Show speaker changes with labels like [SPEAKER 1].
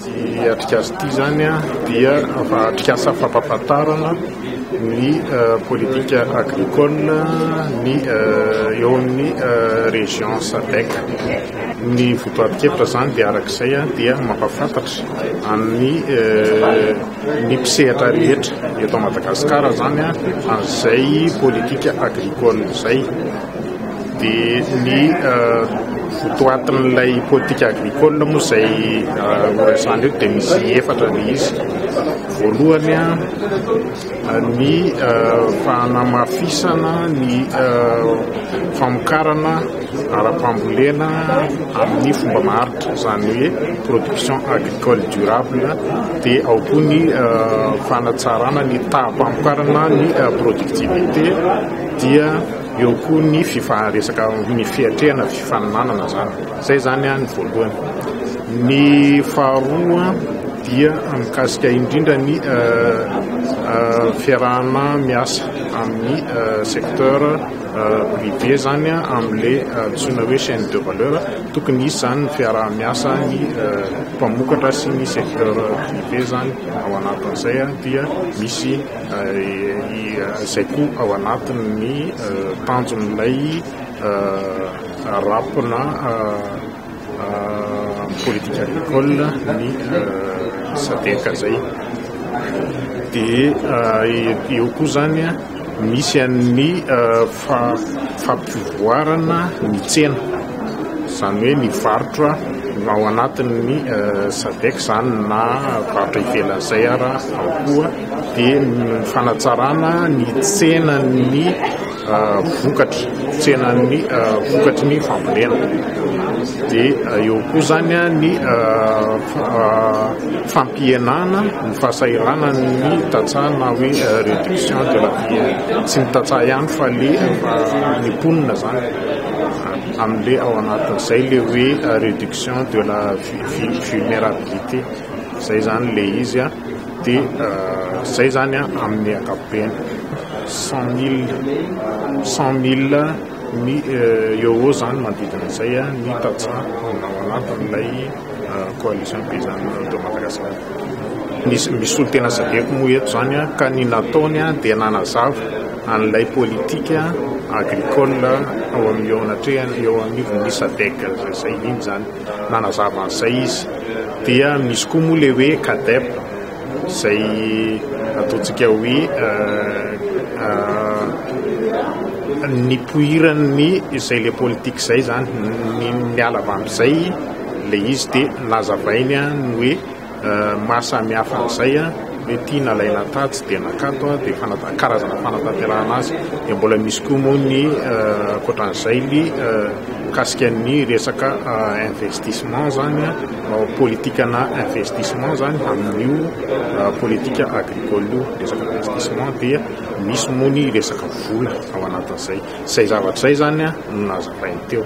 [SPEAKER 1] Ity atrikasa ity izany dia atrikasa fampahafantarana ny politika agricole ny eo amin'ny région Sadec. Ny votoatin-kevitra izany dia araka izay dia mampahafantatra amin'ny ny mpisehatra rehetra eto Madagasikara izany an'izay politika agricole izay. Dia ny votoatin'ilay politique agricole moa izay noresahana eto dia misy efatra ilay izy. Voalohany, ny fanamafisana ny famokarana ara-pambolena amin'ny fomba maharitra, izany hoe production agricole durable, dia ao koa ny fanatsarana ny taham-pamokarana ny productivité dia. Eo koa ny fifaharesaka ny fiatrehana fifanomanana zany. Zay zany ny voalohany. Ny faharoa dia mikasika indrindra ny fiarahana miasa amin'ny secteur privé zany amin'ilay antsoina hoe chaine de valeur. Tokony hisy zany ny fiaraha-miasa ny mpamokatra sy ny secteur privé zany ao anatin'izay dia misy izay koa ao anatin'ny tanjon'ilay rap na politique agricole ny sadc zay dia eo koa zany misy an'ny fampivoarana ny tsena izany hoe ny varotra ao anatin'ny sadc zany na varotra ivelan'izay ary ao koa dia ny fanatsarana ny tsenan'ny vokatra, tsenan'ny vokatry ny fambolena. Dia eo koa izany ny fampihenana ny fahasahiranan'ny tantsaha na hoe réduction de la fièvre. Tsy ny tantsaha ihany fa ilay ny mponina izany, amin'ilay ao anatin'izay ilay hoe réduction de la vulnérabilité. Zay zany le izy a, de zay zany a amin'ny ankapobeny cent mille cent mille mi euro zany manodidina zay a ny tantsaha ao anatin'ilay coalition paysanne de Madagascar. Ny ny solontena zakeko moa eto zany a ka ny nataony a dia nanazava an'ilay politique agricole ao amin'ny eo anatrehan'ny eo anivon'ny Sadec zay iny zany. Nanazava an'izay izy. Dia misy koa moa ilay hoe CADEP, izay ataontsika hoe nipoiran'ny izay ilay politika izay izany. Niala avy amin'izay ilay izy dia nazavainy ny hoe Maha samy hafa an'izay hoe ity nalaina tatsy dia nakato dia fanata- karazana fanatanterahana azy. Dia mbola misy koa moa ny eh, ankoatran'izay ny eh, mikasika ny resaka eh, investissement izany, eh, politikana investissement izany amin'io eh, politika agricole io, resaka investissement dia misy moa ny resaka vola ao anatin'izay. Izay zavatra izay izany no nazavainy teo.